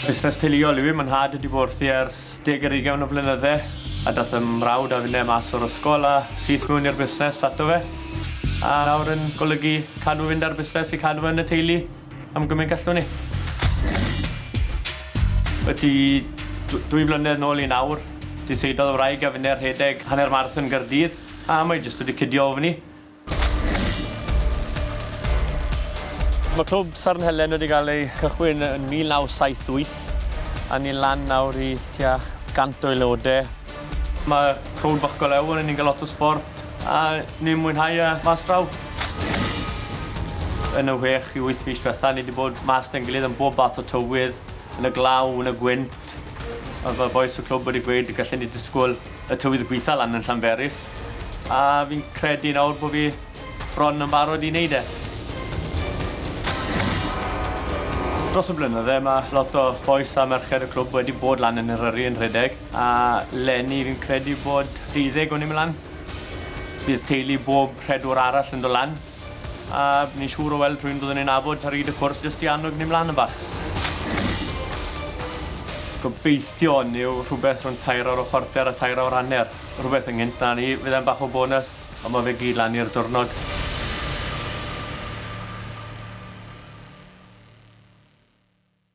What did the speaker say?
Busnes teuluol yw i, mae'n nhad wedi bod wrthi ers deg ar ugain o flynydde a dath fy mrawd a finne mas o'r ysgol a syth mewn i'r busnes ato fe a nawr yn golygu cadw fynd â'r busnes i cadw fe yn y teulu. Am gymaint gallwn ni. Wedi dwy flynedd nôl i nawr, diseidodd y wraig a finne rhedeg hanner marathon Gaerdydd, a mae jyst wedi cydio ofn i. Mae Clwb Sarn Helen wedi cael ei chychwyn yn 1978, a ni'n lan nawr i tua 100 o aelodau. Mae crowd bach go lew, ni'n cael lot o sport a ni'n mwynhau e mas draw. Yn y whech i wyth mis diwetha, ni wedi bod mas da'n gilydd yn bob bath o tywydd, yn y glaw, yn y gwynt. A mae bois y clwb wedi gweud y gallen ni disgwyl y tywydd gweitha lan yn Llanberis. A fi'n credu nawr bod fi bron yn barod i wneud e. Dros y blynydde mae lot o bois a merched y clwb wedi bod lan yn Eryri yn rhedeg. A leni fi'n credu bod deuddeg o ni myn lan. Bydd teulu bob rhedwr arall yn do lan. A ni'n siŵr o weld rhywun byddwn ni'n nabod ar hyd y cwrs jyst i annog ni mlan yn bach. Gobeithio hwn yw rhywbeth rhwng tair awr a chwarter a tair awr hanner. Rhywbeth ynghynt na ni. Fydd e'n bach o bonus, ond mae fe gyd lan i'r diwrnod.